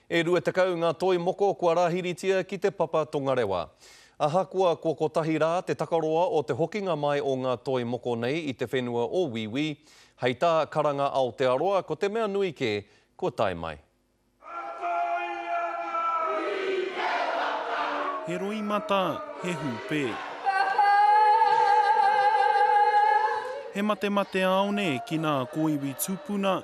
E 20 ngā toi moko kua rāhiritia ki Te Papa Tongarewa. Ahakoa kua kotahi rā te takaroa o te hokinga mai o ngā toi moko nei i te whenua o Wīwī, hei tā Karanga Aotearoa ko te mea nui kē, kua tae mai. He roimata, he hūpē. He matemateāone ki nā kōiwi tupuna,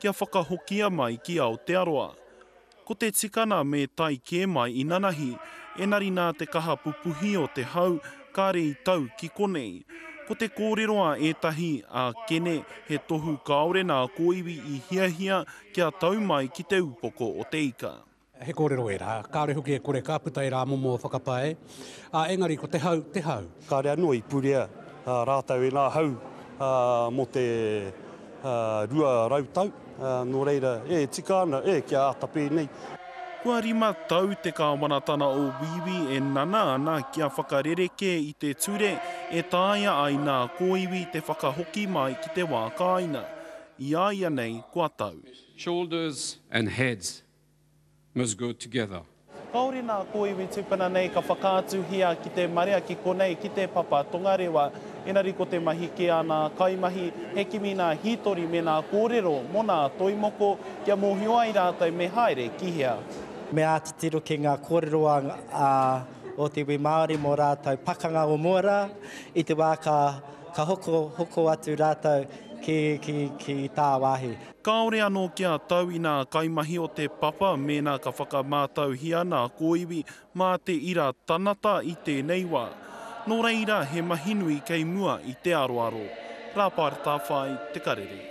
kia whakahokia mai ki Aotearoa. Ko te tikana me tae kē mai inanahi, enari nā te kaha pupuhi o te hau kāre i tau ki konei. Ko te kōrero a ētahi, a Kene, he tohu kāore nā kōiwi i hiahia kia tau mai ki te upoko o te ika. He kōrero ērā, kāore hoki e kore ka puta ērā momo whakapae, ā, engari ko te hau, te hau. Kāre anō i purea rātou ērā hau mō te rua rau tau, nō reira, e tika ana, e, kia āta pēnei. Kua rima tau te kāwanatanga o Wīwī e nana ana kia whakarerekē i te ture e taea ai nā kōiwi te whakahoki mai ki te wā kāinga. I a ia nei kua tau. shoulders and heads. must go together. Kaore nā kōiwi tupuna nei ka whakaatuhia ki te marea ki konei ki te papa tongarewa. Engari ko te mahi kē a nā kaimahi, he kimi nā hītori me nā kōrero mō nā toi moko kia mōhio ai rātou me haere ki hea. Me āta tiro ki ngā kōrero a o te iwi Māori mō rātou pakanga o mua rā i te wā ka hoko atu rātou ki tāwāhi. Kāore anō kia tau i nā kaimahi o Te Papa mēnā ka whakamātauhia nā kōiwi mā te ira tanata i tēnei wā. Nō reira, he mahi nui kei mua i te aroaro. Rāpara Tāwhai, Te Karere.